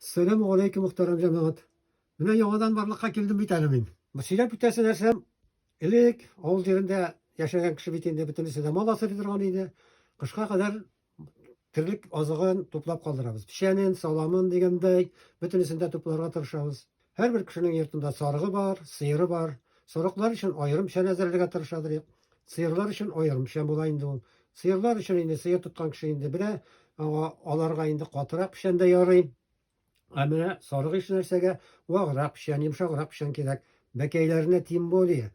Сәләмү галәйкүм мөхтәрәм җәмәгать. Менә яңадан барлыкка килдем бит әле мин. Сөйләп үтәсе нәрсәм, элек авыл җирендә яшәгән кеше бит инде бөтенесе дә мал асрый торган иде. Кышка кадәр терлек азыгын туплап калдырабыз. Печәнен, саламын дигәндәй, бөтенесен дә тупларга тырышабыз. Һәрбер кешенең йортында сарыгы бар, сыеры бар. Сарыклар өчен аерым шән әзерләргә тырышадыр. Сыерлар өчен аерым шән була инде ул. Сыерлар өчен инде сыер тоткан кеше инде белә, аңа аларга инде катырак печән дә ярый. Ә менә сарык еш нәрсәгә ваграк печән, йомшаграк печән кирәк. Бәкәйләренә тем более.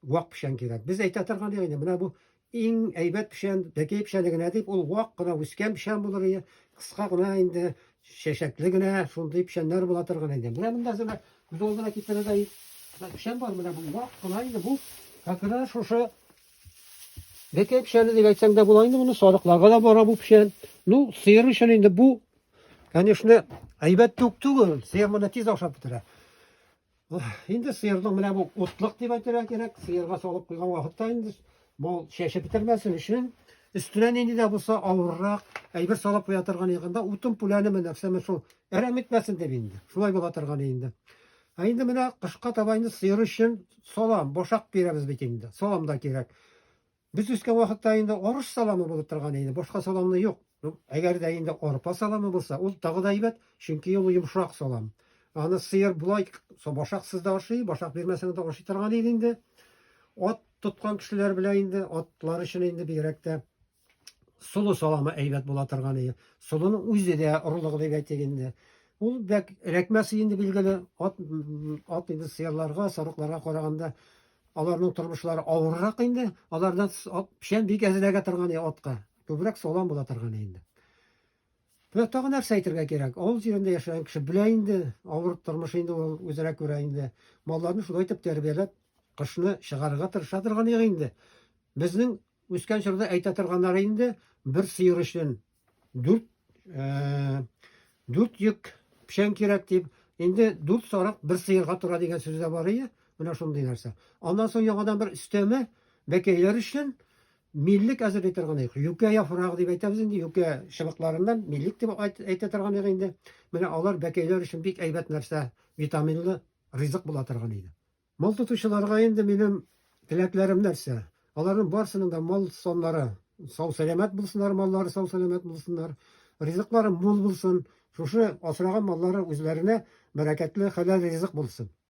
вак печән кирәк. Без әйтә торган инде, менә бу иң әйбәт печән, бәкәй печәне генә дип, ул вак кына үскән печән булыр иде, кыска гына инде, чәчәкле генә, шундый печәннәр була торган инде. Менә монда зына күз алдына китерергә печән бар, менә бу вак кына инде, бу как раз шушы бәкәй печәне дип әйтсәң дә була инде, моны сарыкларга да бара бу печән. Ну, сыер өчен инде бу, конечно, әйбәт түк түгел, сыер моны тиз ашап бетерә. Инде сыерның менә бу утлык дип әйтергә кирәк. Сыерга салып куйган вакытта инде бу чәче бетермәсен өчен өстенә нинди дә булса авыррак әйбер салып куя торган ягында утын пүләнеме нәрсәме шул әрәм итмәсен дип инде. Шулай була торган инде. Ә инде менә кышка таба инде сыер өчен салам, бошак бирәбез бит инде. Салам да кирәк. Без үскән вакытта инде арыш саламы булып торган инде, башка саламны юк. Әгәр дә инде арпа саламы булса, ул тагы да әйбәт, чөнки ул йомшак салам. Аны сыер болай башаксыз да ашый, башак бирмәсәң дә ашый торган иде инде. Ат тоткан кешеләр белән инде атлар өчен инде бигрәк тә солы саламы әйбәт була торган иде. Солының үзе дә орлыгы дип әйтик инде. Ул бәк рәкмәсе инде билгеле, ат ат инде сыерларга, сарыкларга караганда Аларның тормышлары авыррак инде, аларда печән бик әзрәгә торган иде атка. Күбрәк салам була торган инде. Менә тагын нәрсә әйтергә кирәк. Авыл җирендә яшәгән кеше белә инде, авыр тормыш инде ул үзенә күрә инде. Малларны шулай итеп тәрбияләп, кышны чыгарырга тырыша торган иде инде. Безнең үскән чорда әйтә торганнары инде бер сыер өчен Дүрт, ә, дүрт йөк пішән кирәк дип, инде дүрт сарык бер сыйырга тора дигән сүз дә бар ие, менә шундый нәрсә. Аннан соң яңадан бер өстәмә бәкәйләр өчен миллек әзерли торган идек. Юкә яфрагы дип әйтәбез инде, юкә чыбыкларыннан миллек дип әйтә торган идек инде. Менә алар бәкәйләр өчен бик әйбәт нәрсә, витаминлы ризык була торган иде. Мал тотучыларга инде минем теләкләрем нәрсә? Аларның барсының да мал саннары сау-сәламәт булсыннар, маллары сау-сәламәт булсыннар, ризыклары мул булсын, шушы асраган маллары үзләренә бәрәкәтле, хәләл ризык булсын.